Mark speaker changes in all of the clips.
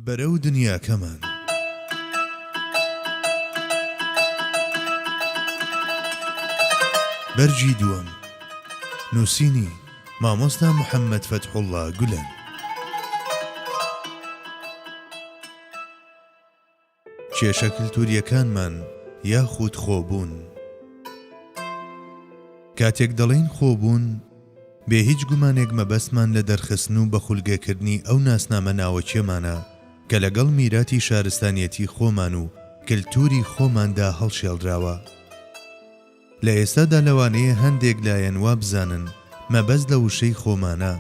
Speaker 1: بەرەو دنیاکەمان. بەرگی دووەم. نووسینی، مامۆستا محەممەد فەتحوڵڵا گولەن. کێشە کلتوریەکانمان یاخود خۆبوون. کاتێک دەڵێین خۆبوون، بێ هیچ گومانێک مەبەستمان لە دەرخستن و بەخولگەکردنی ئەو ناسنامە ناوەکیەمانە کە لەگەڵ میراتی شارستانیەتی خۆمان و کلتوری خۆماندا هەڵشێڵراوە. لە ئێستادا لەوانەیە هەندێک لایەن وابزانن مەبەست لە وشەی خۆمانە،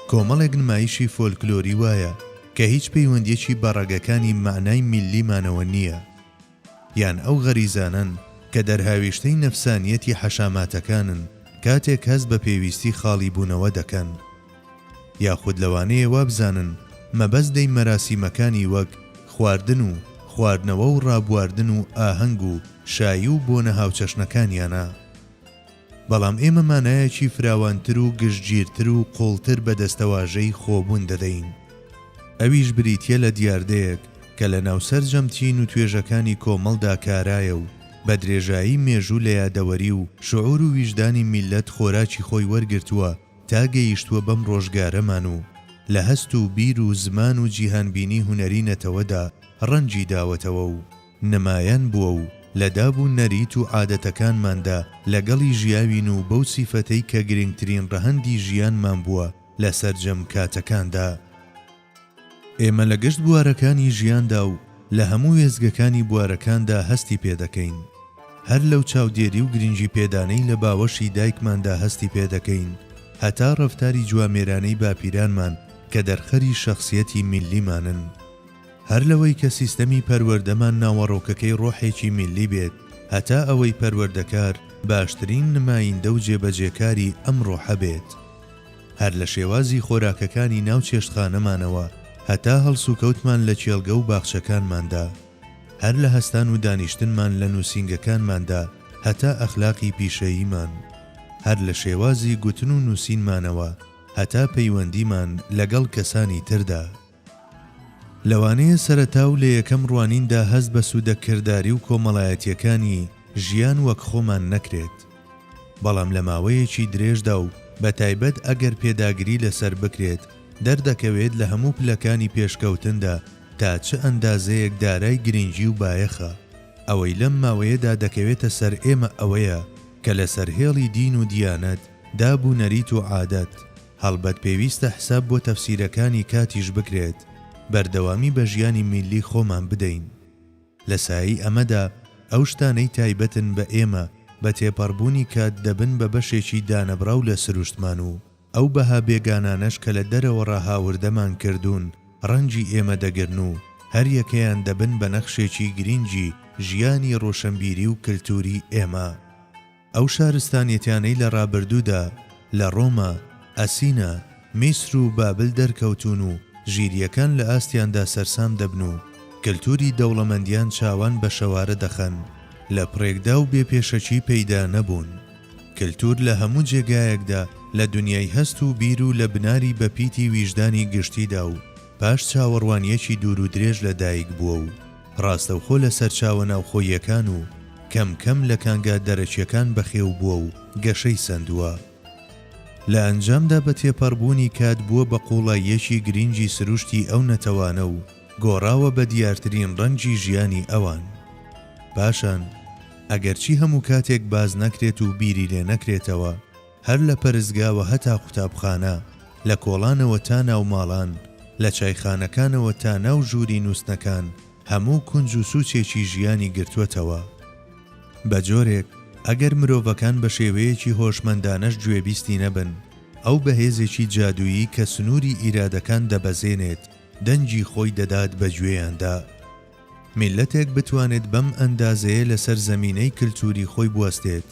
Speaker 1: کۆمەڵێک نمایشی فۆلکلۆری وایە کە هیچ پەیوەندییەکی بە ڕەگەکانی مەعنای میللیمانەوە نییە، یان ئەو غەریزانەن کە دەرهاویشتەی نەفسانییەتی حەشاماتەکانن کاتێک هەست بە پێویستی خاڵیبوونەوە دەکەن. یاخود لەوانەیە وابزانن مەبەست لەی مەراسیمەکانی وەک خواردن و خواردنەوە و ڕابواردن و ئاهەنگ و شایی و بۆنە هاوچەشنەکانیانە. بەڵام ئێمە مانایەکی فراوانتر و گشتگیرتر و قووڵتر بە دەستەواژەی خۆبوون دەدەین. ئەویش بریتییە لە دیاردەیەک کە لەناو سەرجەم چین و توێژەکانی کۆمەڵدا کارایە و بە درێژایی مێژوو لە یادەوەری و شعور و ویژدانی میللەت خۆراکی خۆی وەرگرتووە تا گەیشتووە بەم ڕۆژگارەمان و لە هەست و بیر و زمان و جیهانبینی هونەری نەتەوەدا ڕەنگی داوەتەوە و نمایان بووە و لە داب و نەریت و عادەتەکانماندا لەگەڵی ژیاوین و بەو سیفەتەی کە گرنگترین ڕەهەندی ژیانمان بووە لە سەرجەم کاتەکاندا. ئێمە لە گشت بوارەکانی ژیاندا و لە هەموو وێستگەکانی بوارەکاندا هەستی پێ دەکەین. هەر لەو چاودێری و گرنگی پێدانەی لە باوەشی دایکماندا هەستی پێ دەکەین هەتا ڕەفتاری جوامێرانەی باپیرانمان کە دەرخەری شەخسیەتی میللیمانن. هەر لەوەی کە سیستەمی پەروەردەمان ناوەڕۆکەکەی ڕۆحێکی میللی بێت هەتا ئەوەی پەروەردەکار باشترین نمایندە و جێبەجێکاری ئەم ڕۆحە بێت. هەر لە شێوازی خۆراکەکانی ناو چێشتخانەمانەوە هەتا هەڵسوکەوتمان لە کێڵگە و باخچەکانماندا، هەر لە هەستان و دانیشتنمان لە نووسینگەکانماندا هەتا ئەخلاقی پیشەییمان، هەر لە شێوازی گوتن و نووسینمانەوە هەتا پەیوەندیمان لەگەڵ کەسانی تردا. لەوانەیە سەرەتا و لە یەکەم ڕوانیندا هەست بە سوودە کرداری و کۆمەڵایەتییەکانی ژیان وەک خۆمان نەکرێت، بەڵام لە ماوەیەکی درێژدا و بەتایبەت ئەگەر پێداگری لەسەر بکرێت، دەردەکەوێت لە هەموو پلەکانی پێشکەوتندا تا چ ئەندازەیەک دارای گرنگی و بایەخە. ئەوەی لەم ماوەیەدا دەکەوێتە سەر ئێمە ئەوەیە کە لەسەر هێڵی دین و دیانەت دا بوونەریت و عادەت، هەڵبەت پێویستە حساب بۆ تەفسیرەکانی کاتیش بکرێت، بەردەوامی بە ژیانی میللی خۆمان بدەین. لە سایەی ئەمەدا ئەو شتانەی تایبەتن بە ئێمە بە تێپەڕبوونی کات دەبن بە بەشێکی دانەبڕاو لە سروشتمان و ئەو بەها بێگانانەش کە لە دەرەوەڕا هاوردەمان کردوون ڕەنگی ئێمە دەگرن و هەریەکەیان دەبن بە نەخشێکی گرینگی ژیانی ڕۆشنبیری و کلتووری ئێمە. ئەو شارستانیەتیانەی لە ڕابردوودا لە ڕۆما، ئەسینا، میسر و بابل دەرکەوتوون و ژیریەکان لە ئاستیاندا سەرسام دەبن و کەلتوری دەوڵەمەندیان چاوان بە شەوارە دەخەن لە پڕێکدا و بێ پێشەکی پەیدا نەبوون. کەلتور لە هەموو جێگایەکدا لە دنیای هەست و بیر و لە بناری بەپیتی ویژدانی گشتیدا و پاش چاوەڕوانیەکی دوور و درێژ لە دایک بووە و ڕاستەوخۆ لە سەرچاوە ناوخۆییەکان و کەم کەم لە کانگا دەرەکیەکان بەخێو بووە و گەشەی سەندووە. لە ئەنجامدا بە تێپەڕبوونی کات بووە بە قووڵاییەکی گرینگی سروشتی ئەو نەتەوانە و گۆڕاوە بە دیارترین ڕەنگی ژیانی ئەوان. پاشان، ئەگەرچی هەموو کاتێک باس نەکرێت و بیری لێ نەکرێتەوە، هەر لە پەرستگاوە هەتا قوتابخانە، لە کۆڵانەوە تا ناو ماڵان، لە چایخانەکانەوە تا ناو ژووری نووستنەکان، هەموو کونج و سوچێکی ژیانی گرتووەتەوە. بە جۆرێک، ئەگەر مرۆڤەکان بە شێوەیەکی هۆشمەندانەش گوێبیستی نەبن، ئەو بە هێزێکی جادوویی کە سنووری ئیرادەکان دەبەزێنێت، دەنگی خۆی دەدات بە گوێیاندا. میللەتێک بتوانێت بەم ئەندازەیە لەسەر زەمینەی کلتوری خۆی بوەستێت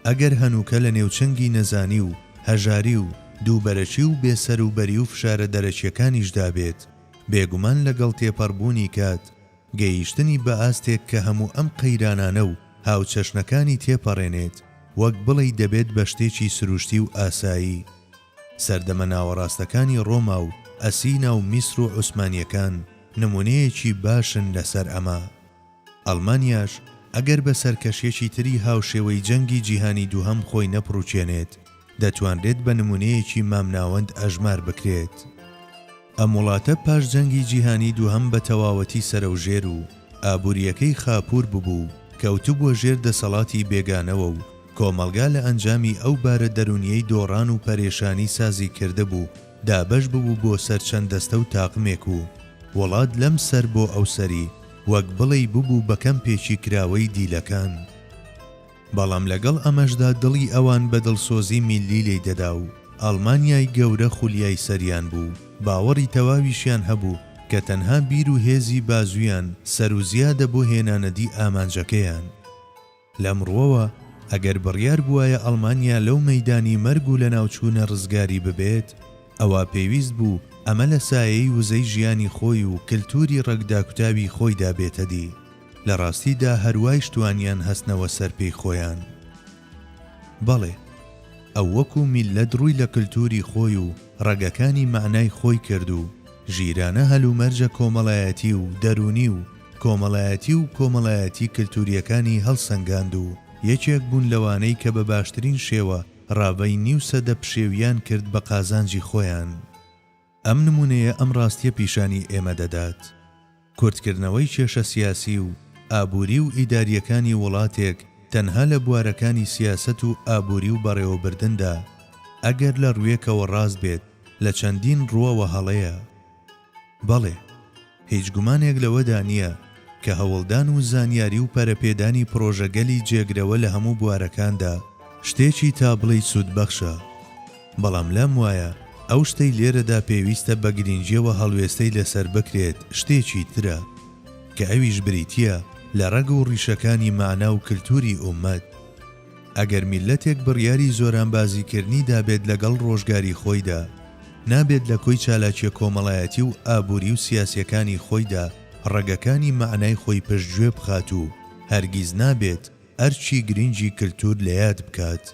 Speaker 1: ئەگەر هەنووکە لە نێو چنگی نەزانی و هەژاری و دووبەرەکی و بێ سەر و بەری و فشارە دەرەکیەکانیشدا بێت بێگومان لەگەڵ تێپەڕبوونی کات گەیشتنی بە ئاستێک کە هەموو ئەم قەیرانانە و هاوچەشنەکانی تێپەڕێنێت وەک بڵێی دەبێت بە شتێکی سروشتی و ئاسایی سەردەمە ناوەڕاستەکانی ڕۆما و ئەسینا و میسر و عوسمانییەکان نموونەیەکی باشن لەسەر ئەمە. ئەڵمانیاش ئەگەر بە سەرکەشێکی تری هاوشێوەی جەنگی جیهانی دووهەم خۆی نەپڕووکێنێت، دەتوانرێت بە نموونەیەکی مامناوەند ئەژمار بکرێت. ئەم وڵاتە پاش جەنگی جیهانی دووهەم بە تەواوەتی سەرەوژێر و ئابوورییەکەی خاپوور ببوو و کەوتبووە ژێر دەسەڵاتی بێگانەوە و کۆمەڵگا لە ئەنجامی ئەو بارە دەروونییەی دۆڕان و پەرێشانی سازی کردبوو دابەش ببوو بۆ سەر چەند دەستە و تاقمێک و وڵات لەم سەر بۆ ئەو سەری وەک بڵێی ببوو بە کەمپێکی کراوەی دیلەکان. بەڵام لەگەڵ ئەمەشدا دڵی ئەوان بە دڵسۆزی میللی لێی دەدا و ئەڵمانیای گەورە خولیای سەریان بوو، باوەڕی تەواویشیان هەبوو کە تەنها بیر و هێزی بازوویان سەروزیادە بۆ هێنانەدی ئامانجەکەیان. لەم ڕووەوە ئەگەر بڕیار بووایە ئەڵمانیا لەو مەیدانی مەرگ و لەناوچوونە ڕزگاری ببێت، ئەوا پێویست بوو ئەمە لە سایەی وزەی ژیانی خۆی و کلتووری ڕەگ داکوتاوی خۆیدا بێتەدی. لە ڕاستی دا هەر وایش توانیان هەستنەوە سەر پێی خۆیان. بەڵێ ئەو وەکوو میللەت ڕووی لە کلتووری خۆی و ڕەگەکانی مەعنای خۆی کرد و ژیرانە هەلومەرجە کۆمەڵایەتی و دەروونی و کۆمەڵایەتی و کۆمەڵایەتی کلتوورییەکانی هەڵسەنگاند و یەکێک بوون لەوانەی کە بە باشترین شێوە ڕاڤەی نیو سەدە پشێویان کرد بە قازانجی خۆیان. ئەم نمونەیە ئەم ڕاستیە پیشانی ئێمە دەدات، کورتکردنەوەی کێشە سیاسی و ئابوری و ئیداریەکانی وڵاتێک تەنها لە بوارەکانی سیاسەت و ئابوری و بەڕێوەبردندا ئەگەر لە ڕوێکەوە ڕاست بێت لە چەندین ڕوەوە هەڵەیە. بەڵێ. هیچ گومانێک لەوەدا نییە کە هەوڵدان و زانیاری و پەرەپێدانی پڕۆژەگەلی جێگرەوە لە هەموو بوارەکاندا شتێکی تا بڵێی سوودبەخشە، بەڵام لام وایە ئەو شتەی لێرەدا پێویستە بە گرینگییەوە هەڵوێستەی لەسەر بکرێت شتێکی ترە، کە ئەویش بریتییە لە ڕەگ و ڕیشەکانی مەعنا و کلتووری ئوممەت. ئەگەر میللەتێک بڕیاری زۆرانبازیکردنی دابێت لەگەڵ ڕۆژگاری خۆیدا، نابێت لە کۆی چالاکیە کۆمەڵایەتی و ئابوری و سیاسیەکانی خۆیدا ڕەگەکانی مەعنای خۆی پشت گوێ بخات و هەرگیز نابێت ئەرکی گرنگی کلتور لەیاد بکات.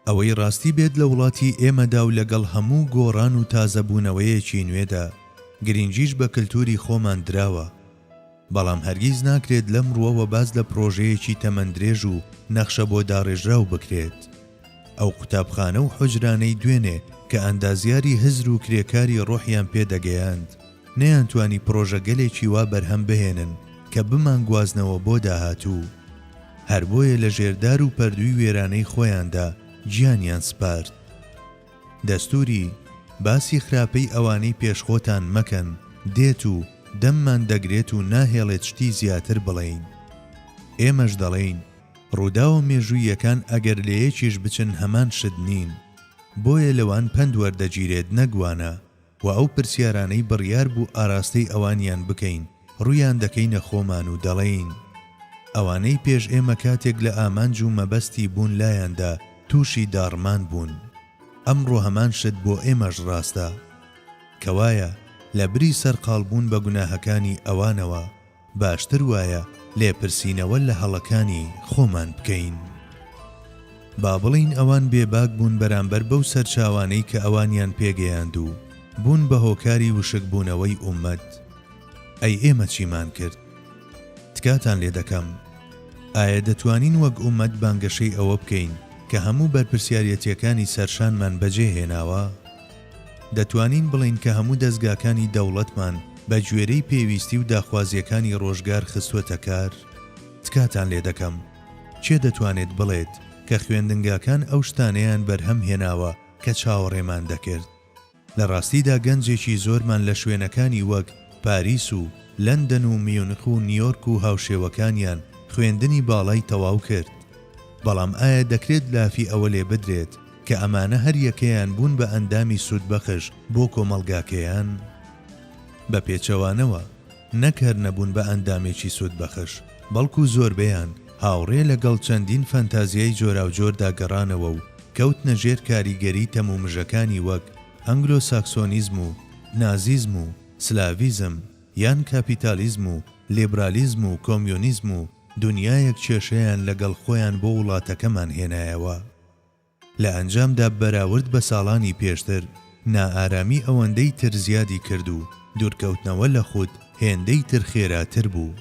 Speaker 1: ئەوەی ڕاستی بێت لە وڵاتی ئێمەدا و لەگەڵ هەموو گۆڕان و تازەبوونەوەیەکی نوێدا، گرینگیش بە کلتوری خۆمان دراوە. بەڵام هەرگیز ناکرێت لەم ڕووەوە باس لە پڕۆژەیەکی تەمەن درێژ و نەخشە بۆ داڕێژراو بکرێت. ئەو قوتابخانە و حوجرانەی دوێنێ کە ئەندازیاری هزر و کرێکاری ڕۆحیان پێ دەگەیاند، نەیانتوانی پڕۆژەگەلێکی وا بەرهەم بهێنن کە بمانگوازنەوە بۆ داهاتوو. هەر بۆیە لە ژێر دار و پەردووی وێرانەی خۆیاندا گیانیان سپارد. دەستووری، باسی خراپەی ئەوانەی پێش خۆتان مەکەن، دێت و دەممان دەگرێت و ناهێڵێت شتی زیاتر بڵێین. ئێمەش دەڵێین، ڕووداوە مێژووییەکان ئەگەر لە یەکیش بچن هەمان شت نین. بۆیە لەوان پەند وەردەگیرێت نەک وانە. وە ئەو پرسیارانەی بڕیار بوو ئاراستەی ئەوانیان بکەین ڕوویان دەکەینە خۆمان و دەڵێین ئەوانەی پێش ئێمە کاتێک لە ئامانج و مەبەستی بوون لایاندا تووشی داڕمان بوون ئەمڕۆ هەمان شت بۆ ئێمەش ڕاستە کەوایە لەبری سەرقاڵبوون بە گوناهەکانی ئەوانەوە باشتر وایە لێپرسینەوە لە هەڵەکانی خۆمان بکەین. با بڵێین ئەوان بێباک بوون بەرامبەر بەو سەرچاوانەی کە ئەوانیان پێگەیاند و بوون بە هۆکاری وشکبوونەوەی ئوممەت، ئەی ئێمە چیمان کرد؟ تکاتان لێ دەکەم، ئایا دەتوانین وەک ئوممەت بانگەشەی ئەوە بکەین کە هەموو بەرپرسیاریەتیەکانی سەرشانمان بەجێهێناوە؟ دەتوانین بڵێین کە هەموو دەزگاکانی دەوڵەتمان بە گوێرەی پێویستی و داخوازییەکانی ڕۆژگار خستووەتە کار؟ تکاتان لێ دەکەم کێ دەتوانێت بڵێت کە خوێندنگاکان ئەو شتانەیان بەرهەم هێناوە کە چاوەڕێمان دەکرد؟ لە ڕاستیدا گەنجێکی زۆرمان لە شوێنەکانی وەک پاریس و لەندەن و میونخ و نیۆرک و هاوشێوەکانیان خوێندنی باڵای تەواو کرد، بەڵام ئایا دەکرێت لافی ئەوە لێ بدرێت، کە ئەمانە هەریەکەیان بوون بە ئەندامی سوودبەخش بۆ کۆمەڵگاکەیان بە پێچەوانەوە نەک هەر نەبوون بە ئەندامێکی سوودبەخش بەڵکو زۆربەیان هاوڕێ لەگەڵ چەندین فەنتازیای جۆراوجۆردا گەڕانەوە و کەوتنە ژێر کاریگەری تەم و مژەکانی وەک ئەنگلۆ ساکسۆنیزم و نازیزم و سلاڤیزم یان کاپیتالیزم و لیبرالیزم و کۆمیۆنیزم و دونیایەک کێشەیان لەگەڵ خۆیان بۆ وڵاتەکەمان هێنایەوە. لە ئەنجامدا بەراورد بە ساڵانی پێشتر نائارامی ئەوەندەی تر زیادی کرد و دوورکەوتنەوە لە خود هێندەی تر خێراتر بوو.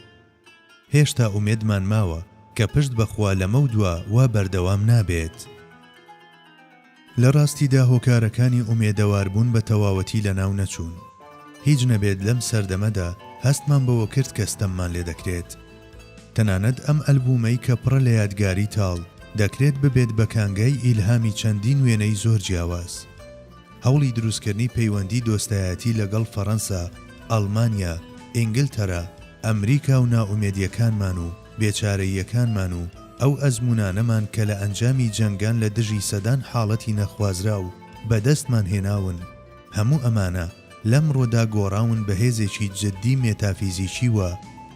Speaker 1: هێشتا ئومێدمان ماوە کە پشت بە خوا لەمەودوا وا بەردەوام نابێت. لە ڕاستیدا هۆکارەکانی ئومێدەواربوون بە تەواوەتی لەناو نەچوون. هیچ نەبێت لەم سەردەمەدا هەستمان بەوە کرد کە ستەممان لێ دەکرێت. تەنانەت ئەم ئەلبوومەی کە پڕە لە یادگاری تاڵ، دەکرێت ببێت بە کانگای ئیلهامی چەندین وێنەی زۆر جیاواز. هەوڵی دروستکردنی پەیوەندی دۆستایەتی لەگەڵ فەرەنسا، ئەڵمانیا، ئینگلتەرا، ئەمریکا و نائومێدییەکانمان و بێچارەییەکانمان و ئەو ئەزموونانەمان کە لە ئەنجامی جەنگان لە دژی سەدان حاڵەتی نەخوازراو بەدەستمان هێناون، هەموو ئەمانە، لەمڕۆدا گۆڕاون بە هێزێکی جددی مێتافیزیکی و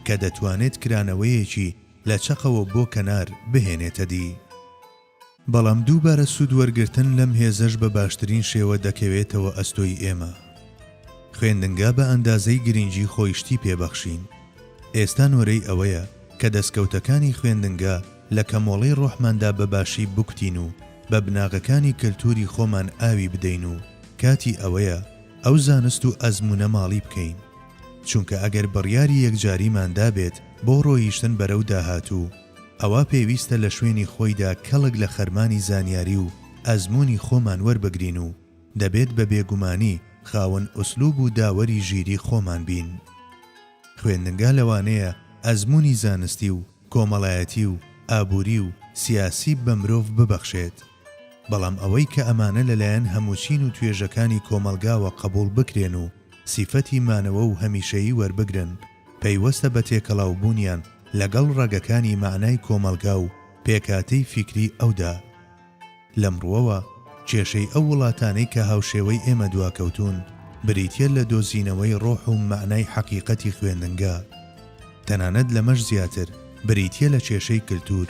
Speaker 1: کە دەتوانێت کرانەوەیەکی لە چەقەوە بۆ کەنار بهێنێتە دی. بەڵام دووبارە سوودوەرگرتن لەم هێزەش بە باشترین شێوە دەکەوێتەوە ئەستۆی ئێمە. خوێندنگا بە ئەندازەی گرنگی خۆی شتی پێبەخشین. ئێستا نۆرەی ئەوەیە کە دەستکەوتەکانی خوێندنگا، لە کەمۆڵی ڕۆحماندا بە باشی بکوتین و بە بناغەکانی کەلتووری خۆمان ئاوی بدەین و کاتی ئەوەیە ئەو زانست و ئەزموونە ماڵی بکەین. چونکە ئەگەر بڕیاری یەکجاریمان دابێت بۆ ڕۆییشتن بەرەو داهاتوو، ئەوا پێویستە لە شوێنی خۆیدا کەڵک لە خەرمانی زانیاری و ئەزموونی خۆمان وەربگرین و دەبێت بە بێگومانی خاوەن ئوسلوب و داوەری ژیری خۆمان بین. خوێندنگا لەوانەیە ئەزموونی زانستی و کۆمەڵایەتی و ئابووری و سیاسی بە مرۆڤ ببەخشێت، بەڵام ئەوەی کە ئەمانە لەلایەن هەمووچین و توێژەکانی کۆمەڵگاوە قەبووڵ بکرێن و سیفەتی مانەوە و هەمیشەیی وەربگرن، پەیوەستە بە تێکەڵاوبوونیان لەگەڵ ڕەگەکانی مەعنای کۆمەڵگا و پێکهاتەی فیکری ئەودا. لەم ڕووەوە کێشەی ئەو وڵاتانەی کە هاوشێوەی ئێمە دواکەوتوون بریتییە لە دۆزینەوەی ڕۆح و مەعنای حەقیقەتی خوێندنگە، تەنانەت لەمەش زیاتر بریتییە لە کێشەی کلتوور،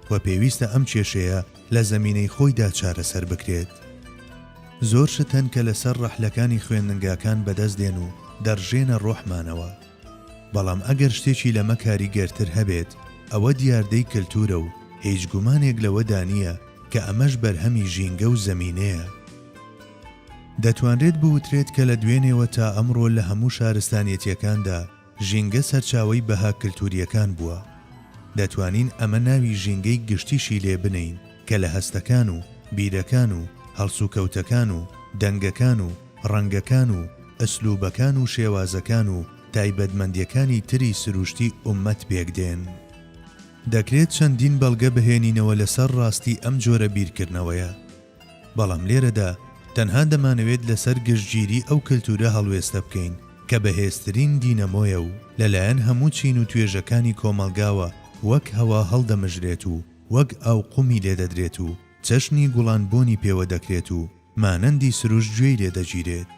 Speaker 1: و پێویستە ئەم کێشەیە لە زەمینەی خۆیدا چارەسەر بکرێت. زۆر شت هەن کە لەسەر ڕەحلەکانی خوێندنگاکان بەدەست دێن و دەڕژێنە ڕۆحمانەوە. بەڵام ئەگەر شتێکی لەمە کاریگەرتر هەبێت ئەوە دیاردەی کەلتورە و هیچ گومانێک لەوەدا نییە کە ئەمەش بەرهەمی ژینگە و زەمینەیە. دەتوانرێت بوترێت کە لە دوێنێوە تا ئەمڕۆ لە هەموو شارستانیەتیەکاندا ژینگە سەرچاوەی بەها کەلتوریەکان بووە. دەتوانین ئەمە ناوی ژینگەی گشتیشی لێ بنێین کە لە هەستەکان و بیرەکان و هەڵسوکەوتەکان و دەنگەکان و ڕەنگەکان و ئسلوبەکان و شێوازەکان و تایبەتمەندیەکانی تری سروشتی ئوممەت پێک دێن. دەکرێت چەندین بەڵگە بهێنینەوە لەسەر ڕاستی ئەم جۆرە بیرکردنەوەیە، بەڵام لێرەدا تەنها دەمانەوێت لەسەر گشتگیری ئەو کلتورە هەڵوێستە بکەین کە بەهێزترین دینەمۆیە و لەلایەن هەموو چین و توێژەکانی کۆمەڵگاوە وەک هەوا هەڵدەمژرێت و وەک ئاو قومی لێدەدرێت و چەشنی گوڵان بۆنی پێوە دەکرێت و مانەندی سروشت گوێی لێ دەگیرێت.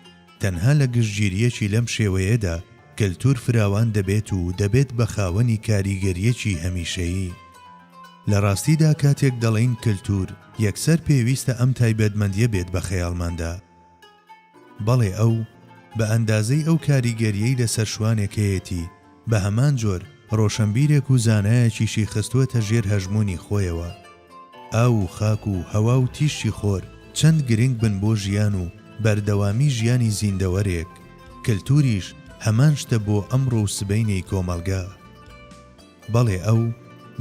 Speaker 1: تەنها لە گشتگیرییەکی لەم شێوەیەدا، کەلتوور فراوان دەبێت و دەبێت بە خاوەنی کاریگەرییەکی هەمیشەیی. لە ڕاستیدا کاتێک دەڵێین کەلتوور، یەکسەر پێویستە ئەم تایبەتمەندییە بێت بە خەیاڵماندا. بەڵێ ئەو، بە ئەندازەی ئەو کاریگەرییەی لەسەر شوانێک هەیەتی، بە هەمان جۆر ڕۆشەنبیرێک و زانایەکیشی خستووەتە ژێر هەژموونی خۆیەوە. ئاو و خاک و هەوا و تیشکی خۆر چەند گرنگ بن بۆ ژیان و بەردەوامیی ژیانی زیندەوەرێک، کلتوریش هەمان شتە بۆ ئەمڕۆ و سبەینێی کۆمەڵگە. بەڵێ ئەو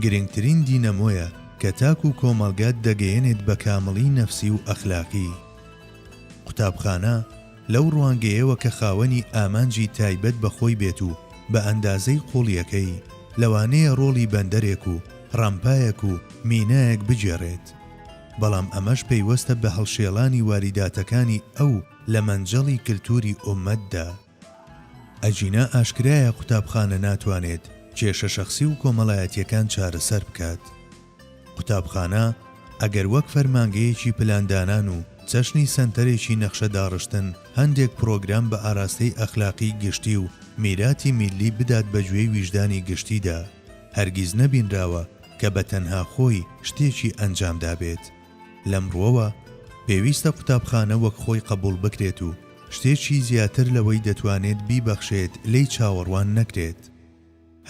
Speaker 1: گرنگترین دینەمۆیە کە تاک و کۆمەڵگات دەگەیەنێت بە کامڵیی نەفسی و ئەخلاقی. قوتابخانە، لەو ڕوانگەیەوە کە خاوەنی ئامانجی تایبەت بە خۆی بێت و بە ئەندازەی قووڵییەکەی، لەوانەیە ڕۆڵی بەندەرێک و ڕامپایەک و مینایەک بگێڕێت، بەڵام ئەمەش پەیوەستە بە هەڵشێڵانی واریداتەکانی ئەو لە مەنجەڵی کلتووری ئۆممەتدا. ئەگینا ئاشکرایە قوتابخانە ناتوانێت کێشە شەخسی و کۆمەڵایەتییەکان چارەسەر بکات. قوتابخانە ئەگەر وەک فەرمانگەیەکی پلاندانان و چەشنی سەنتەرێکی نەخشە داڕشتن هەندێک پڕۆگرام بە ئاراستەی ئەخلاقی گشتی و میراتی میللی بدات بە گوێی ویژدانی گشتیدا هەرگیز نەبینراوە کە بە تەنها خۆی شتێکی ئەنجام دابێت لەم ڕوەوە پێویستە قوتابخانە وەک خۆی قەبوڵ بکرێت و شتێکی زیاتر لەوەی دەتوانێت بیبەخشێت لێی چاوەڕوان نەکرێت.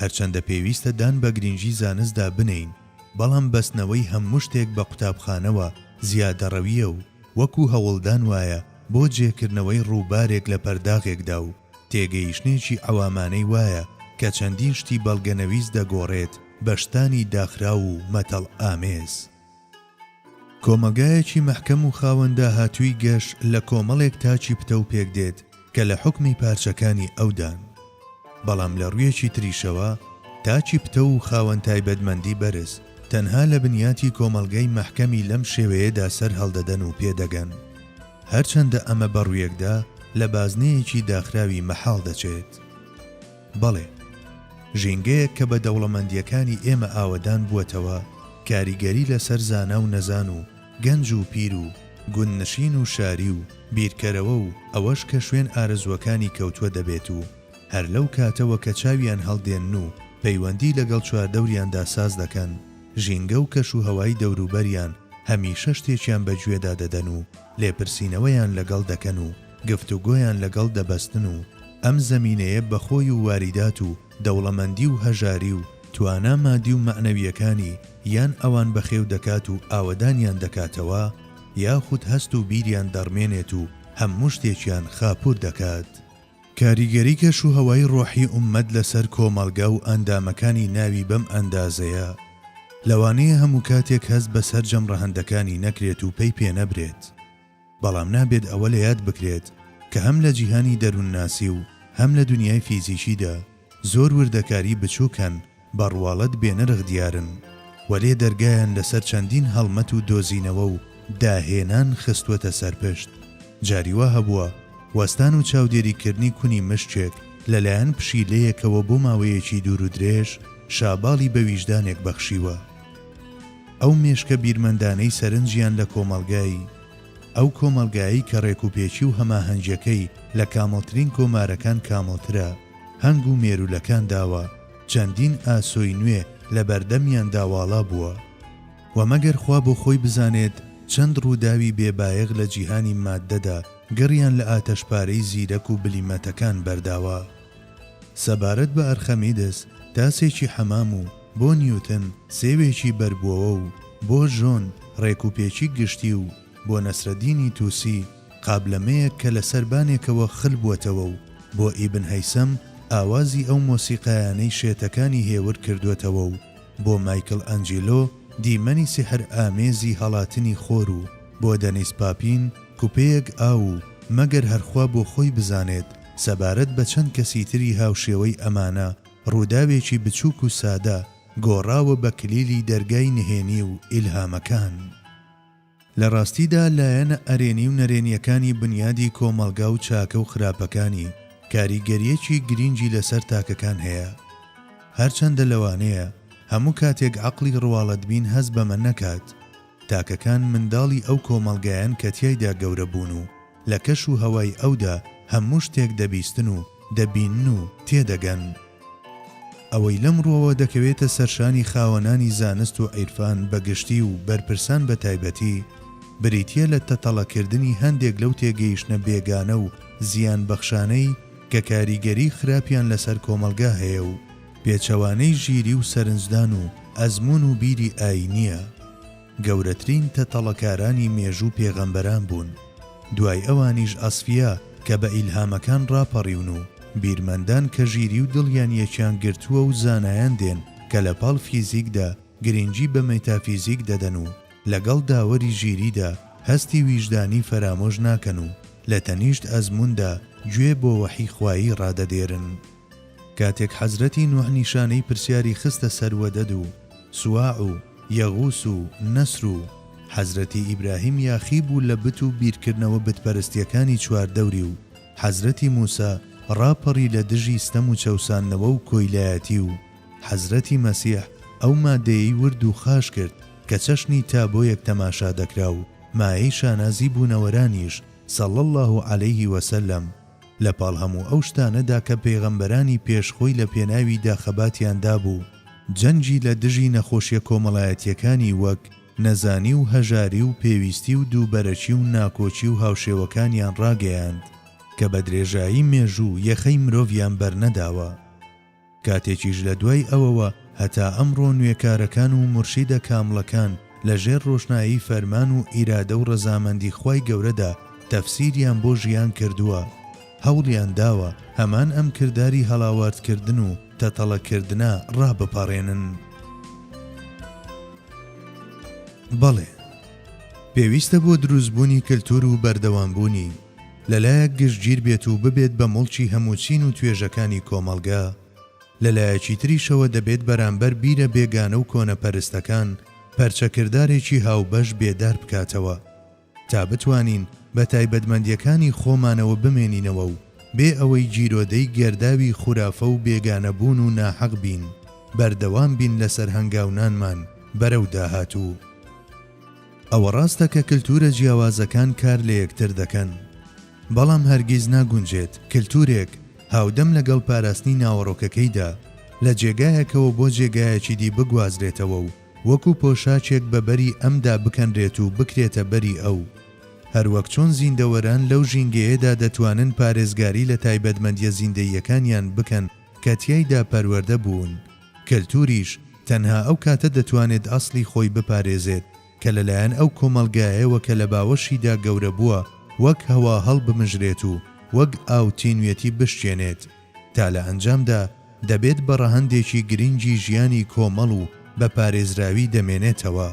Speaker 1: هەرچەندە پێویستە دان بە گرینگی زانستدا بنێین، بەڵام بەستنەوەی هەموو شتێک بە قوتابخانەوە زیادەڕەوییە و وەکو هەوڵدان وایە بۆ جێکردنەوەی ڕووبارێک لە پەرداغێکدا و تێگەیشتنێکی عەوامانەی وایە کە چەندین شتی بەڵگەنەویست دەگۆڕێت بە شتانی داخراو و مەتەڵ ئامێز. کۆمەڵگایەکی مەحکەم و خاوەن داهاتووی گەش لە کۆمەڵێک تاکی پتەو پێکدێت کە لە حوکمی پارچەکانی ئەودان. بەڵام لە ڕوویەکی تریشەوە تاکی پتەو و خاوەن تایبەتمەندی بەرز تەنها لە بنیاتی کۆمەڵگەی مەحکەمی لەم شێوەیەدا سەر هەڵدەدەن و پێدەگەن. هەرچەندە ئەمە بەڕوویەکدا لە بازنەیەکی داخراوی مەحاڵ دەچێت. بەڵێ، ژینگەیەک کە بە دەوڵەمەندییەکانی ئێمە ئاوەدان بووەتەوە، کاریگەری لەسەر زانا و نەزان و گەنج و پیر و گوندنشین و شاری و بیرکەرەوە و ئەوەش کە شوێن ئارەزووەکانی کەوتووە دەبێت و هەر لەو کاتەوە کە چاویان هەڵدێنن و پەیوەندی لەگەڵ چواردەوریاندا ساز دەکەن، ژینگە و کەشوهەوای دەوروبەریان هەمیشە شتێکیان بە گوێدا دەدەن و لێپرسینەوەیان لەگەڵ دەکەن و. گفتوگۆیان لەگەڵ دەبەستن و ئەم زەمینەیە بە خۆی و واریدات و دەوڵەمەندی و هەژاری و توانا مادی و مەعنەوییەکانی یان ئەوان بەخێو دەکات و ئاوەدانیان دەکاتەوە یاخود هەست و بیریان دەڕمێنێت و هەموو شتێکیان خاپوور دەکات. کاریگەری کەش و هەوای ڕۆحی ئوممەت لەسەر کۆمەڵگا و ئەندامەکانی ناوی بەم ئەندازەیە، لەوانەیە هەموو کاتێک هەست بە سەرجەم ڕەهەندەکانی نەکرێت و پەی پێنەبرێت. بەڵام نابێت ئەوە لە یاد بکرێت کە هەم لە جیهانی دەروونناسی و هەم لە دونیای فیزیکیدا زۆر وردەکاری بچووک هەن بە ڕواڵەت بێنرخ دیارن، وەلێ دەرگایان لەسەر چەندین هەڵمەت و دۆزینەوە و داهێنان خستووەتە سەر پشت. جاری وا هەبووە وەستان و چاودێریکردنی کونی مشکێک لە لایەن پشیلەیەکەوە بۆ ماوەیەکی دوور و درێژ شاباڵی بە ویژدانێک بەخشیوە. ئەو مێشکە بیرمەندانەی سەرنجیان لە کۆمەڵگای، ئەو کۆمەڵگایەی کە ڕێکوپێکی و هەماهەنگیەکەی لە کامڵترین کۆمارەکان کامڵترە، هەنگ و مێروولەکان داوە، چەندین ئاسۆی نوێ لە بەردەمیاندا واڵا بووە. وە مەگەر خوا بۆ خۆی بزانێت چەند ڕووداوی بێ بایەخ لە جیهانی ماددەدا گڕیان لە ئاتەشپارەی زیرەک و بلیمەتەکان بەرداوە. سەبارەت بە ئەرخەمیدس، تاسێکی حەمام و بۆ نیوتن، سێوێکی بەربوەوە و بۆ ژۆن، ڕێکوپێکی گشتی و بۆ نەسرەدینی توسی، قابلەمەیەک کە لە سەربانێکەوە خل بوەتەوە و بۆ ئیبن هەیسەم، ئاوازی ئەو مۆسیقایانەی شێتەکانی هێور کردوەتەوە و بۆ مایکل ئەنجیلۆ، دیمەنی سیحر ئامێزی هەڵاتنی خۆر و بۆ دەنیس پاپین، کوپەیەک ئاو و مەگەر هەر خوا بۆ خۆی بزانێت، سەبارەت بە چەند کەسی تری هاوشێوەی ئەمانە، ڕووداوێکی بچووک و سادە، گۆڕاوە بە کلیلی دەرگای نهێنی و ئیلهامەکان. لە ڕاستیدا لایەنە ئەرێنی و نەرێنییەکانی بنیادی کۆمەڵگا و چاکە و خراپەکانی، کاریگەرییەکی گرینگی لەسەر تاکەکان هەیە. هەرچەندە لەوانەیە هەموو کاتێک عەقڵی ڕواڵەتبین هەست بەمە نەکات، تاکەکان منداڵی ئەو کۆمەڵگایەن کە تیایدا گەورە بوون و لە کەش و هەوای ئەودا هەموو شتێک دەبیستن و دەبینن و تێدەگەن. ئەوەی لەم ڕوەوە دەکەوێتە سەرشانی خاوەنانی زانست و عیرفان بە گشتی و بەرپرسان بە تایبەتی، بریتیە لە تەتەڵە کردنی هەندێک لەو تێگەیشتنە بێگانە و زیان بەخشانەی کە کاریگەری خراپیان لەسەر کۆمەڵگا هەیە و، پێچەوانەی ژیری و سەرنجدان و ئەزموون و بیری ئایینییە. گەورەترین تەتەڵەکارانی مێژوو پێغەمبەران بوون، دوای ئەوانیش ئەسفیا کە بە ئیلهامەکان ڕاپەڕیون و بیرمەندان کە ژیری و دڵیان یەکیان گرتووە و زانایان دێن کە لە پاڵ فیزیکدا گرینگی بە مێتافیزیک دەدەن و لەگەڵ داوەری ژیریدا هەستی ویژدانی فەرامۆش ناکەن و لە تەنیشت ئەزمووندا گوێ بۆ وەحی خوایی ڕادەدێرن. کاتێک حەزرەتی نوح نیشانەی پرسیاری خستە سەر وەدەد و سواع و یەغوس و نەسر و حەزرەتی ئیبراهیم یاخی بوو لە بت و بیرکردنەوە بت پەرستیەکانی چوار دەوری و حەزرەتی موسا ڕاپەڕی لە دژی ستەم و چەوساندنەوە و کۆیلایەتی و حەزرەتی مەسیح ئەو مادەیەی ورد و خاش کرد کە چەشنی تابۆیەک تەماشا دەکرا و مایەی شانازی بوونەوەرانیش صلی اللە علیه وسلم لە پاڵ هەموو ئەو شتانەدا کە پێغەمبەرانی پێش خۆی لە پێناویدا خەباتیان دابوو، جەنگی لە دژی نەخۆشیە کۆمەڵایەتیەکانی وەک، نەزانی و هەژاری و پێویستی و دووبەرەکی و ناکۆکی و هاوشێوەکانیان ڕاگەیاند، کە بە درێژایی مێژوو یەخەی مرۆڤیان بەرنەداوە. کاتێکیش لە دوای ئەوەوە هەتا ئەمڕۆ نوێکارەکان و مورشیدە کامڵەکان لە ژێر ڕۆشنایی فەرمان و ئیرادە و ڕەزامەندی خوای گەورەدا تەفسیریان بۆ ژیان کردووە هەوڵیان داوە هەمان ئەم کرداری هەڵاوارد کردن و تەتەڵە کردنە ڕابپەڕێنن. بەڵێ پێویستە بۆ دروستبوونی کلتور و بەردەوامبوونی، لەلایەک گشتگیر بێت و ببێت بە موڵکی هەموو چین و توێژەکانی کۆمەڵگە، لەلایەکی تریشەوە دەبێت بەرامبەر بیرە بێگانە و کۆنەپەرستەکان پەرچەکردارێکی هاوبەش بێدار بکاتەوە تا بتوانین بە تایبەتمەندییەکانی خۆمانەوە بمێنینەوە و بێ ئەوەی گیرۆدەی گەرداوی خورافە و بێگانەبوون و ناحەق بین بەردەوام بین لەسەر هەنگاونانمان بەرەو داهاتوو. ئەوە ڕاستە کە کلتوورە جیاوازەکان کار لە یەکتر دەکەن، بەڵام هەرگیز ناگونجێت کلتوورێک هاودەم لەگەڵ پاراستنی ناوەڕۆکەکەیدا، لە جێگایەکەوە بۆ جێگایەکی دی بگوازرێتەوە و وەکو پۆشاکێک بە بەری ئەمدا بکەنرێت و بکرێتە بەری ئەو. هەروەک چۆن زیندەوەران لەو ژینگەیەدا دەتوانن پارێزگاری لە تایبەتمەندییە زیندەییەکانیان بکەن کە تیایدا پەروەردە بوون، کەلتوریش تەنها ئەو کاتە دەتوانێت ئەسڵی خۆی بپارێزێت کە لەلایەن ئەو کۆمەڵگایەوە کە لە باوەشیدا گەورە بووە وەک هەوا هەڵبمژرێت و وەک ئاو تینوێتی بشکێنێت تا لە ئەنجامدا دەبێت بە ڕەهەندێکی گرنگی ژیانی کۆمەڵ و بە پارێزراوی دەمێنێتەوە.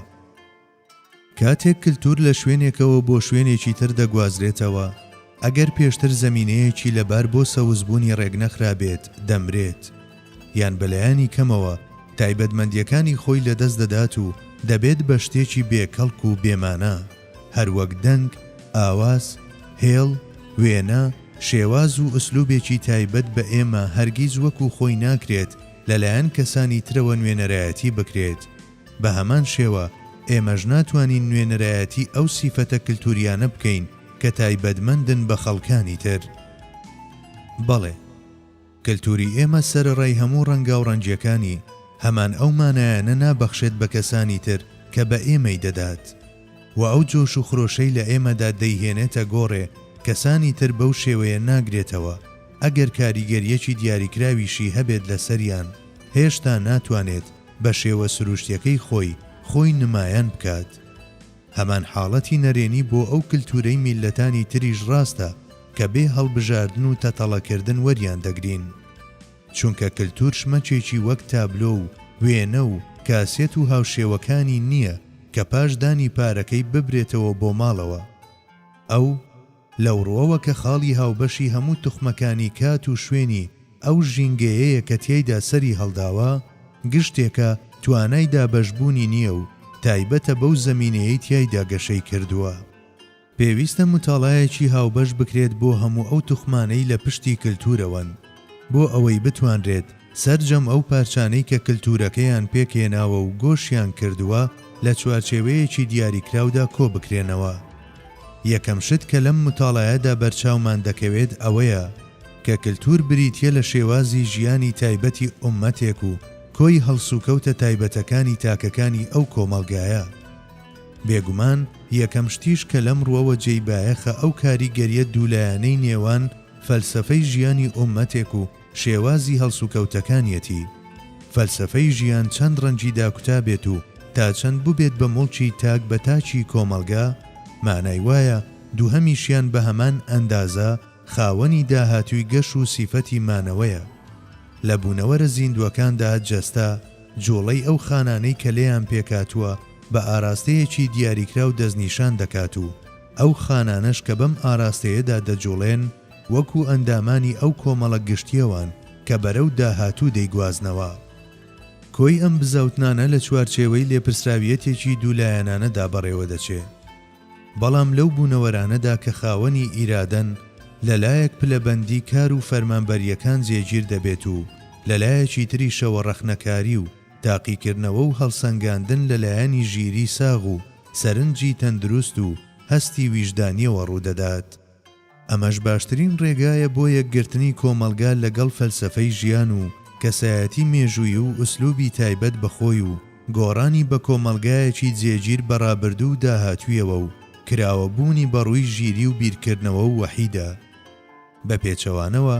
Speaker 1: کاتێک کلتور لە شوێنێکەوە بۆ شوێنێکی تر دەگوازرێتەوە، ئەگەر پێشتر زەمینەیەکی لەبار بۆ سەوزبوونی ڕێکنەخرابێت، دەمرێت، یان بە لایەنی کەمەوە تایبەتمەندییەکانی خۆی لەدەست دەدات و دەبێت بە شتێکی بێ کەڵک و بێ مانا، هەر وەک دەنگ، ئاواز، هێڵ، وێنە، شێواز و ئسلوبێکی تایبەت بە ئێمە هەرگیز وەکو خۆی ناکرێت لەلایەن کەسانی ترەوە نوێنەرایەتی بکرێت. بە هەمان شێوە ئێمەش ناتوانین نوێنەرایەتی ئەو سیفەتە کلتوریانە بکەین کە تایبەتمەندن بە خەڵکانی تر. بەڵێ، کلتوری ئێمە سەرەڕای هەموو ڕەنگاوڕەنگیەکانی، هەمان ئەو مانایانە نابەخشێت بە کەسانی تر کە بە ئێمەی دەدات و ئەو جۆش و خرۆشەی لە ئێمەدا دەیهێنێتە گۆڕێ کەسانی تر بەو شێوەیە ناگرێتەوە، ئەگەر کاریگەریەکی دیاریکراویشی هەبێت لەسەریان، هێشتا ناتوانێت. بە شێوە سروشتیەکەی خۆی خۆی نمایان بکات. هەمان حاڵەتی نەرێنی بۆ ئەو کلتورەی میللەتانی تریش ڕاستە کە بێ هەڵبژاردن و تەتەڵە کردن وەریان دەگرین. چونکە کلتور شمەکێکی وەک تابلۆ و وێنە و کاسێت و هاوشێوەکانی نیە کە پاش دانی پارەکەی ببرێتەوە بۆ ماڵەوە ئەو لەو ڕووەوە کە خاڵی هاوبەشی هەموو توخمەکانی کات و شوێنی ئەو ژینگەیەیە کە تیایدا سەری هەڵداوە، گشتێکە توانای دابەشبوونی نییە و تایبەتە بەو زەمینەیەی تیایدا گەشەی کردووە. پێویستە متاڵایەکی هاوبەش بکرێت بۆ هەموو ئەو توخمانەی لە پشتی کلتوورەوەن بۆ ئەوەی بتوانرێت، سەرجەم ئەو پارچانەی کە کلتوورەکەیان پێکهێناوە و گۆشیان کردووە لە چوارچێوەیەکی دیاریکراودا کۆبکرێنەوە. یەکەم شت کە لەم متاڵایەدا بەرچاومان دەکەوێت ئەوەیە کە کلتوور بریتییە لە شێوازی ژیانی تایبەتی ئوممەتێک و کۆی هەڵسوکەوتە تایبەتەکانی تاکەکانی ئەو کۆمەڵگایە. بێگومان یەکەم شتیش کە لەم ڕووەوە جێی بایەخە ئەو کاریگەرییە دوولایەنەی نێوان فەلسەفەی ژیانی ئوممەتێک و شێوازی هەڵسوکەوتەکانیەتی فەلسەفەی ژیان چەند ڕەنگی داکوتابێت و تا چەند بوبێت بە موڵکی تاک بە تاکی کۆمەڵگا مانای وایە دوهەمیشیان بە هەمان ئەندازە خاوەنی داهاتوی گەش و سیفەتی مانەوەیە لە بونەوەرە زیندوەکاندا جەستە جوڵەی ئەو خانانەی کە لێیان پێکهاتوە بە ئاراستەیەکی دیاریکراو دەستنیشان دەکات و ئەو خانانەش کە بەم ئاراستەیەدا دەجوڵێن وەکو ئەندامانی ئەو کۆمەڵە گشتیەوان کە بەرەو داهاتوو دەیگوازنەوە. کۆی ئەم بزاوتنانە لە چوارچێوەی لێپرسراویەتێکی دوو لایەنانەدا بەڕێوەدەچێ. بەڵام لەو بوونەوەرانەدا کە خاوەنی ئیرادەن لە لایەک پلەبەندی کار و فەرمانبەرییەکان جێگیر دەبێت و لە لایەکی تریشەوە ڕەخنەکاری و تاقیکردنەوە و هەڵسەنگاندن لە لایەنی ژیری ساغ و سەرنجی تەندروست و هەستی ویژدانیەوە ڕوودەدات. ئەمەش باشترین ڕێگایە بۆ یەکگرتنی کۆمەڵگا لەگەڵ فەلسەفەی ژیان و کەسایەتی مێژووی و ئسلوبی تایبەت بە خۆی و گۆڕانی بە کۆمەڵگایەکی جێگیر بە ڕابردوو و داهاتوویەوە و کراوە بوونی بەڕووی ژیری و بیرکردنەوە و وەحیدا بە پێچەوانەوە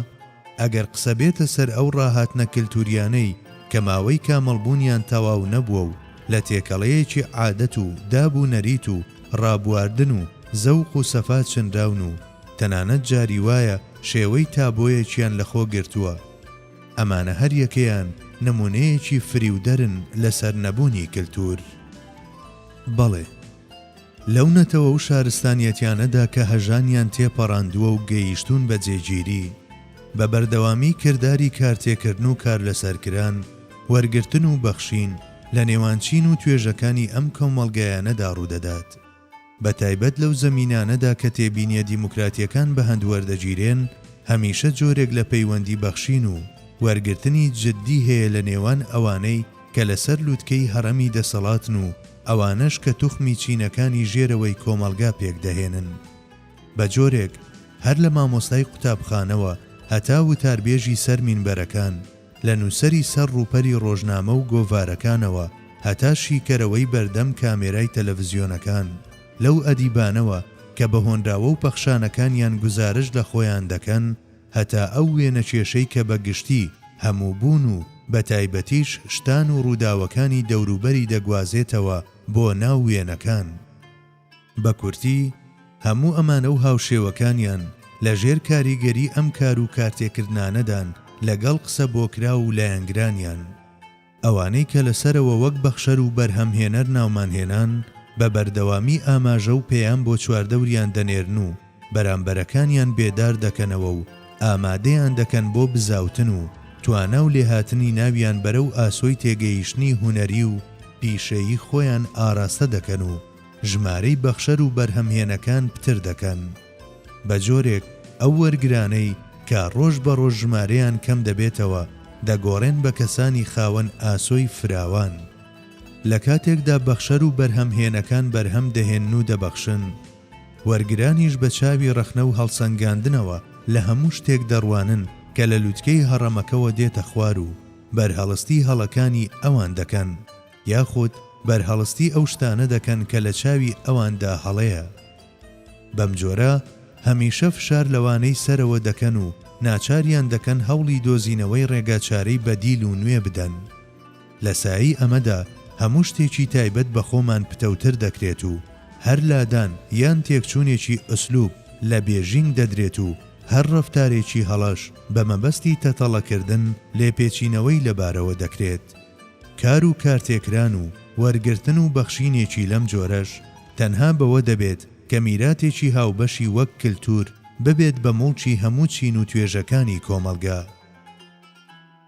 Speaker 1: ئەگەر قسە بێتە سەر ئەو ڕاهاتنە کەلتوریانەی کە ماوەی کامڵ بوونیان تەواو نەبووە و لە تێکەڵەیەکی عادەت و داب و نەریت و ڕابواردن و زەوق و سەفا چنراون و تەنانەت جاری وایە شێوەی تابۆیەکیان لە خۆ گرتووە ئەمانە هەر یەکەیان نمونەیەکی فریودەرن لە سەر نەبوونی کەلتور. بەڵێ. لەو نەتەوە و شارستانیەتیانەدا کە هەژانیان تێپەڕاندووە و گەیشتوون بە جێگیری، بە بەردەوامی کرداری کارتێکردن و کارلەسەرکران، وەرگرتن و بەخشین، لە نێوان چین و توێژەکانی ئەم کۆمەڵگایانەدا ڕوودەدات. بە تایبەت لەو زەمینانەدا کە تێبینیە دیموکراتیەکان بە هەند وەردەگیرێن، هەمیشە جۆرێک لە پەیوەندی بەخشین و وەرگرتنی جدی هەیە لە نێوان ئەوانەی کە لەسەر لوتکەی هەڕەمی دەسەڵاتن و ئەوانەش کە توخمی چینەکانی ژێرەوەی کۆمەڵگا پێک دەهێنن بە جۆرێک هەر لە مامۆستای قوتابخانەوە هەتا وتاربێژی سەر مینبەرەکان، لە نووسەری سەر ڕووپەری ڕۆژنامە و گۆڤارەکانەوە هەتا شیکەرەوەی بەردەم کامێرای تەلەڤزیۆنەکان، لەو ئەدیبانەوە کە بە هۆنراوە و پەخشانەکانیان گوزارشت لە خۆیان دەکەن، هەتا ئەو وێنەکێشەی کە بە گشتی هەموو بوون و بە تایبەتیش شتان و ڕووداوەکانی دەوروبەری دەگوازێتەوە بۆ ناو وێنەکان. بە کورتی، هەموو ئەمانە و هاوشێوەکانیان لە ژێر کاریگەری ئەم کار و کارتێکردنانەدان لەگەڵ قسە بۆکراو و لایەنگرانیان. ئەوانەی کە لە سەرەوە وەک بەخشەر و بەرهەمهێنەر ناومان هێنان، بە بەردەوامی ئاماژە و پەیام بۆ چواردەوریان دەنێرن و بەرامبەرەکانیان بێدار دەکەنەوە و ئامادەیان دەکەن بۆ بزاوتن و توانا و لێهاتنی ناویان بەرەو ئاسۆی تێگەیشتنی هونەری و پیشەیی خۆیان ئاراستە دەکەن و ژمارەی بەخشەر و بەرهەمهێنەکان پتر دەکەن. بە جۆرێک ئەو وەرگرانەی کە ڕۆژ بە ڕۆژ ژمارەیان کەم دەبێتەوە دەگۆڕێن بە کەسانی خاوەن ئاسۆی فراوان. لە کاتێکدا بەخشەر و بەرهەمهێنەکان بەرهەم دەهێنن و دەبەخشن، وەرگرانیش بە چاوی ڕەخنە و هەڵسەنگاندنەوە لە هەموو شتێک دەڕوانن کە لە لوتکەی هەڕەمەکەوە دێتە خوار و بەرهەڵستی هەڵەکانی ئەوان دەکەن یاخود بەرهەڵستی ئەو شتانە دەکەن کە لە چاوی ئەواندا هەڵەیە. بەم جۆرە هەمیشە فشار لەوانەی سەرەوە دەکەن و ناچاریان دەکەن هەوڵی دۆزینەوەی ڕێگا چارەی بەدیل و نوێ بدەن. لە سایەی ئەمەدا هەموو شتێکی تایبەت بە خۆمان پتەوتر دەکرێت و هەر لادان یان تێکچوونێکی ئسلوب لە بێژینگ دەدرێت و هەر ڕەفتارێکی هەڵەش بە مەبەستی تەتەڵەکردن لێپێچینەوەی لەبارەوە دەکرێت. کار و کارتێکران و وەرگرتن و بەخشینێکی لەم جۆرەش تەنها بەوە دەبێت کە میراتێکی هاوبەشی وەک کلتور ببێت بە موڵکی هەموو چین و توێژەکانی کۆمەڵگە.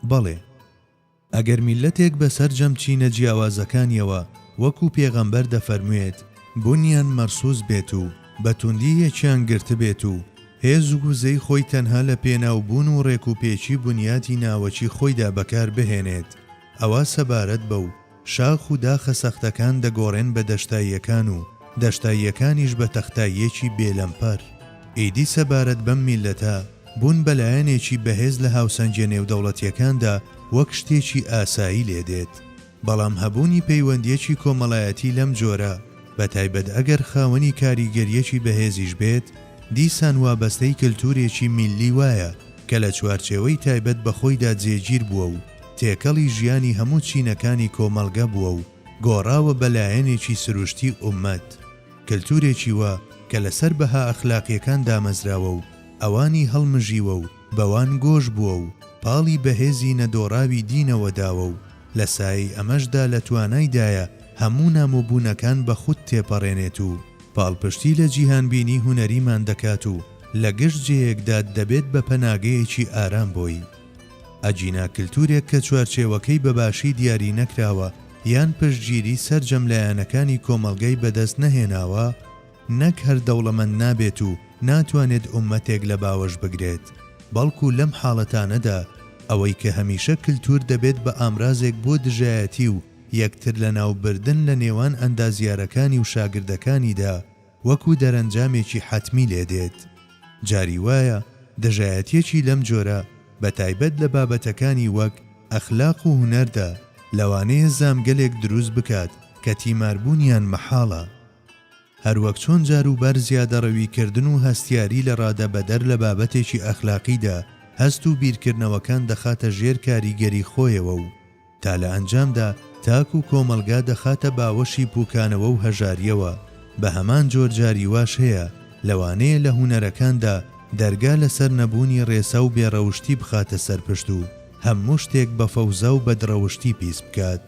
Speaker 1: بەڵێ. ئەگەر میللەتێک بە سەرجەم چینە جیاوازەکانیەوە وەکو پێغەمبەر دەفەرموێت بونیان مەرسوس بێت و بە توندی یەکیان گرتبێت و هێز و وزەی خۆی تەنها لە پێناو بوون و ڕێک و پێکی بنیاتی ناوەکی خۆیدا بەکار بهێنێت ئەوا سەبارەت بەو شاخ و داخە سەختەکان دەگۆڕێن بە دەشتاییەکان و دەشتاییەکانیش بە تەختاییەکی بێ لەمپەر. ئیدی سەبارەت بەم میللەتە بوون بە لایەنێکی بەهێز لە هاوسەنگیە نێودەوڵەتیەکاندا وەک شتێکی ئاسایی لێدێت بەڵام هەبوونی پەیوەندییەکی کۆمەڵایەتی لەم جۆرە، بە تایبەت ئەگەر خاوەنی کاریگەرییەکی بەهێزیش بێت، دیسان وابەستەی کەلتوورێکی میللی وایە کە لە چوارچێوەی تایبەت بە خۆیدا جێگیر بووە و تێکەڵی ژیانی هەموو چینەکانی کۆمەڵگە بووە و گۆڕاوە بە لایەنێکی سروشتی ئوممەت. کەلتوورێکی وا کە لەسەر بەها ئەخلاقییەکان دامەزراوە و ئەوانی هەڵمژیوە و بەوان گۆش بووە و پاڵی بەهێزی نەدۆڕاوی دینەوە داوە و لە سایەی ئەمەشدا لە توانایدایە هەموو نامۆبوونەکان بە خود تێپەڕێنێت و پاڵپشتی لە جیهانبینی هونەریمان دەکات و لە گشت جێیەکدا دەبێت بە پەناگەیەکی ئارام بۆی. ئەگینا کلتورێک کە چوارچێوەکەی بە باشی دیاری نەکراوە یان پشتگیری سەرجەم لایەنەکانی کۆمەڵگای بەدەست نەهێناوە، نەک هەر دەوڵەمەند نابێت و ناتوانێت ئوممەتێک لە باوەش بگرێت، بەڵکو لەم حاڵەتانەدا ئەوەی کە هەمیشە کلتور دەبێت بە ئامرازێک بۆ دژایەتی و یەکتر لەناو بردن لە نێوان ئەندازیارەکانی و شاگردەکانیدا وەکو دەرەنجامێکی حەتمی لێ دێت. جاری وایە دژایەتیەکی لەم جۆرە بە تایبەت لە بابەتەکانی وەک ئەخلاق و هونەردا لەوانەیە زامگەلێک دروست بکات کە تیماربوونیان مەحاڵە. هەروەک چۆن جاروبار زیادەڕەویکردن و هەستیاری لە ڕادە بەدەر لە بابەتێکی ئەخلاقیدا هەست و بیرکردنەوەکان دەخاتە ژێر کاریگەری خۆیەوە و تا لە ئەنجامدا تاک و کۆمەڵگا دەخاتە باوەشی پوکانەوە و هەژارییەوە بە هەمان جۆر جاری واش هەیە لەوانەیە لە هونەرەکاندا دەرگا لەسەر نەبوونی ڕێسا و بێڕەوشتی بخاتە سەر پشت و هەموو شتێک بە فەوزا و بەدڕەوشتی پیس بکات.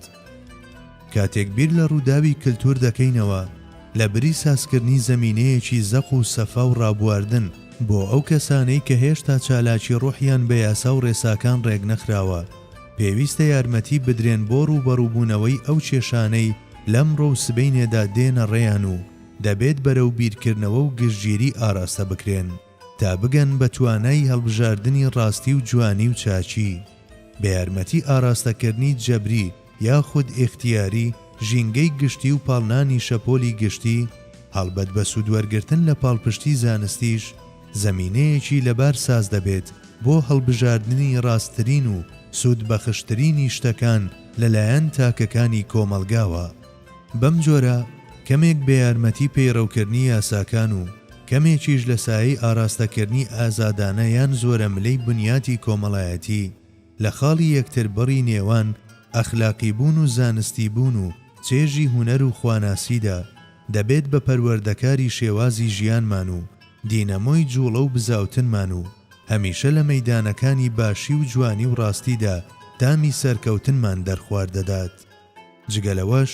Speaker 1: کاتێک بیر لە ڕووداوی کلتوور دەکەینەوە، لە بری سازکردنی زەمینەیەکی زەق و سەفا و ڕابواردن بۆ ئەو کەسانەی کە هێشتا چالاکی ڕۆحیان بە یاسا و ڕێساکان ڕێک نەخراوە، پێویستە یارمەتی بدرێن بۆ ڕووبەڕووبوونەوەی ئەو کێشانەی لەمڕۆ و سبەینێدا دێنە ڕێیان و دەبێت بەرەو بیرکردنەوە و گشتگیری ئاراستە بکرێن تا بگەن بە توانای هەڵبژاردنی ڕاستی و جوانی و چاکی. بە یارمەتی ئاراستەکردنی جەبری یاخود ئیختیاری ژینگەی گشتی و پاڵنانی شەپۆلی گشتی، هەڵبەت بە سوودوەرگرتن لە پاڵپشتی زانستیش، زەمینەیەکی لەبار ساز دەبێت بۆ هەڵبژاردنی ڕاستترین و سوودبەخشترینی شتەکان لەلایەن تاکەکانی کۆمەڵگاوە. بەم جۆرە کەمێک بە یارمەتی پەیڕەوکردنی یاساکان و کەمێکیش لە سایەی ئاراستەکردنی ئازادانە یان زۆرەملێی بنیاتی کۆمەڵایەتی لە خاڵی یەکتربڕی نێوان ئەخلاقیبوون و زانستیبوون و چێژی هونەر و خواناسیدا، دەبێت بە پەروەردەکاری شێوازی ژیانمان و دینەمۆی جوڵە و بزاوتنمان و هەمیشە لە مەیدانەکانی باشی و جوانی و ڕاستیدا تامی سەرکەوتنمان دەرخوار دەدات. جگە لەوەش،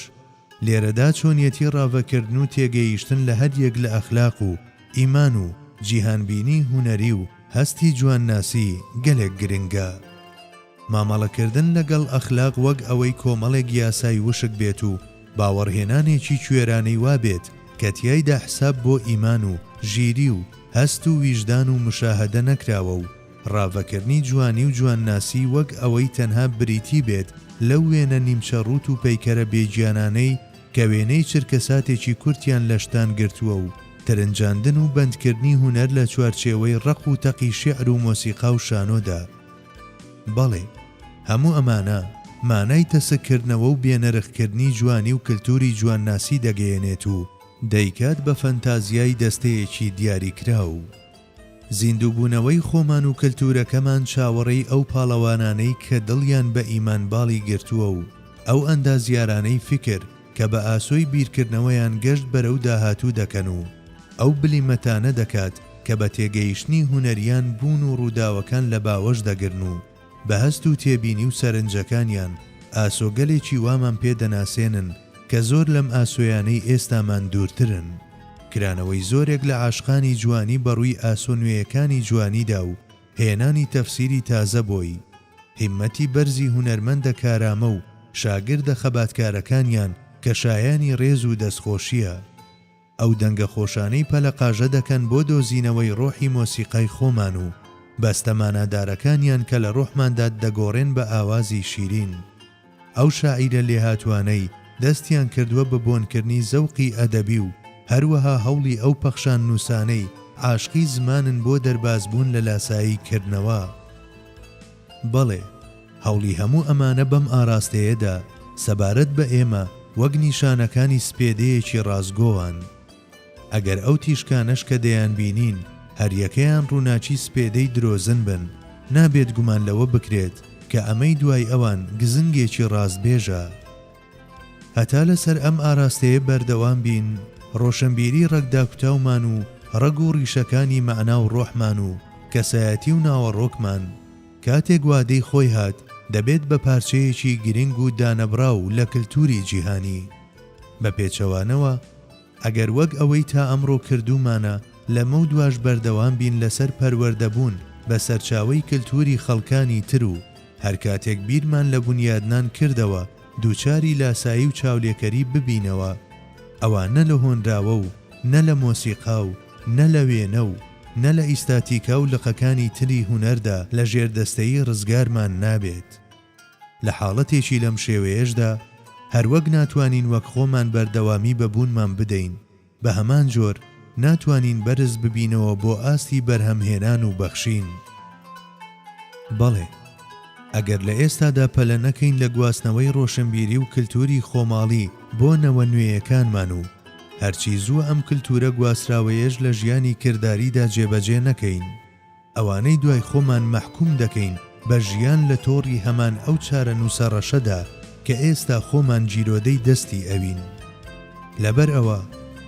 Speaker 1: لێرەدا چۆنیەتی ڕاڤەکردن و تێگەیشتن لە هەریەک لە ئەخلاق و ئیمان و جیهانبینیی هونەری و هەستی جوانناسی گەلێک گرنگە. مامەڵەکردن لەگەڵ ئەخلاق وەک ئەوەی کۆمەڵێک یاسای وشک بێت و باوەڕهێنانێکی کوێرانەی وا بێت کە تیایدا حساب بۆ ئیمان و ژیری و هەست و ویژدان و مشاهەدە نەکراوە و ڕاڤەکردنی جوانی و جوانناسی وەک ئەوەی تەنها بریتی بێت لەو وێنە نیمچە ڕووت و پەیکەرە بێگیانانەی کە وێنەی چرکەساتێکی کورتیان لە شتان گرتووە و ترنجاندن و بەندکردنی هونەر لە چوارچێوەی ڕەق و تەقی شیعر و مۆسیقا و شانۆدا. بەڵێ، هەموو ئەمانە مانای تەسککردنەوە و بێنرخکردنی جوانی و کلتوری جوانناسی دەگەیەنێت و دەیکات بە فەنتازیای دەستەیەکی دیاریکراو. زیندووبوونەوەی خۆمان و کەلتوورەکەمان چاوەڕێی ئەو پاڵەوانانەی کە دڵیان بە ئیمان باڵی گرتووە و ئەو ئەندازیارانەی فیکر کە بە ئاسۆی بیرکردنەوەیان گەشت بەرەو داهاتوو دەکەن و ئەو بلیمەتانە دەکات کە بە تێگەیشتنی هونەرییان بوون و ڕووداوەکان لە باوەش دەگرن و بە هەست و تێبینی و سەرنجەکانیان ئاسۆگەلێکی وامان پێ دەناسێنن کە زۆر لەم ئاسۆیانەی ئێستامان دوورترن. کرانەوەی زۆرێک لە عاشقانی جوانی بە ڕووی ئاسۆ نوێیەکانی جوانیدا و هێنانی تەفسیری تازە بۆی. هیممەتی بەرزی هونەرمەندە کارامە و شاگردە خەباتکارەکانیان کە شایانی ڕێز و دەستخۆشییە. ئەو دەنگە خۆشانەی پەلەقاژە دەکەن بۆ دۆزینەوەی ڕۆحی مۆسیقای خۆمان و بەستە مانادارەکانیان کە لە ڕۆحماندا دەگۆڕێن بە ئاوازی شیرین. ئەو شاعیرە لێهاتووانەی دەستیان کردووە بە بۆنکردنی زەوقی ئەدەبی و هەروەها هەوڵی ئەو پەخشان نووسانەی عاشقی زمانن بۆ دەربازبوون لە لاسایی کردنەوە، بەڵێ، هەوڵی هەموو ئەمانە بەم ئاراستەیەدا سەبارەت بە ئێمە وەک نیشانەکانی سپێدەیەکی ڕاستگۆان. ئەگەر ئەو تیشکانەش کە دەیانبینین هەریەکەیان ڕووناکی سپێدەی درۆزن بن، نابێت گومان لەوە بکرێت کە ئەمەی دوای ئەوان گزنگێکی ڕاستبێژە. هەتا لەسەر ئەم ئاراستەیە بەردەوام بین، ڕۆشنبیری ڕەگ داکوتاومان و ڕەگ و ڕیشەکانی مەعنا و ڕۆحمان و کەسایەتی و ناوەڕۆکمان، کاتێک وادەی خۆی هات، دەبێت بە پارچەیەکی گرنگ و دانەبڕاو لە کلتوری جیهانی. بە پێچەوانەوە، ئەگەر وەک ئەوەی تا ئەمڕۆ کردوومانە لەمەودواش بەردەوام بین لەسەر پەروەردەبوون بە سەرچاوەی کلتووری خەڵکانی تر و هەر کاتێک بیرمان لە بونیادنان کردەوە دووچاری لاسایی و چاولێکەری ببینەوە ئەوا نە لە هۆنراوە و نە لە مۆسیقا و نە لە وێنە و نە لە ئیستاتیکا و لقەکانی تری هونەردا لە ژێردەستەیی ڕزگارمان نابێت. لە حاڵەتێکی لەم شێوەیەشدا، هەروەک ناتوانین وەک خۆمان بەردەوامی بە بوونمان بدەین، بە هەمان جۆر ناتوانین بەرز ببینەوە بۆ ئاستی بەرهەمهێنان و بەخشین. بەڵێ، ئەگەر لە ئێستادا پەلە نەکەین لە گواستنەوەی ڕۆشنبیری و کلتوری خۆماڵی بۆ نەوە نوێیەکانمان و هەرچی زوو ئەم کلتورە گواستراوەیەش لە ژیانی کرداریدا جێبەجێ نەکەین، ئەوانەی دوای خۆمان مەحکوم دەکەین بە ژیان لە تۆڕی هەمان ئەو چارەنووسە ڕەشەدا کە ئێستا خۆمان گیرۆدەی دەستی ئەوین. لەبەر ئەوە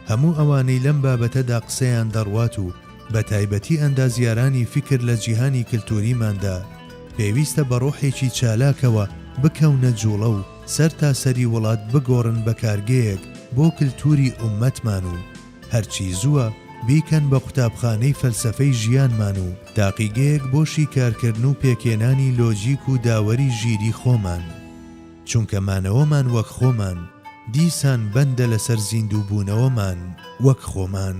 Speaker 1: هەموو ئەوانەی لەم بابەتەدا قسەیان دەڕوات و بە تایبەتی ئەندازیارانی فیکر لە جیهانی کلتووریماندا پێویستە بە ڕۆحێکی چالاکەوە بکەونە جووڵە و سەرتاسەری وڵات بگۆڕن بە کارگەیەک بۆ کلتووری ئوممەتمان و هەرچی زووە بیکەن بە قوتابخانەی فەلسەفەی ژیانمان و تاقیگەیەک بۆ شیکارکردن و پێکهێنانی لۆجیک و داوەری ژیری خۆمان. چونکە مانەوەمان وەک خۆمان، دیسان بەندە لەسەر زیندووبوونەوەمان وەک خۆمان.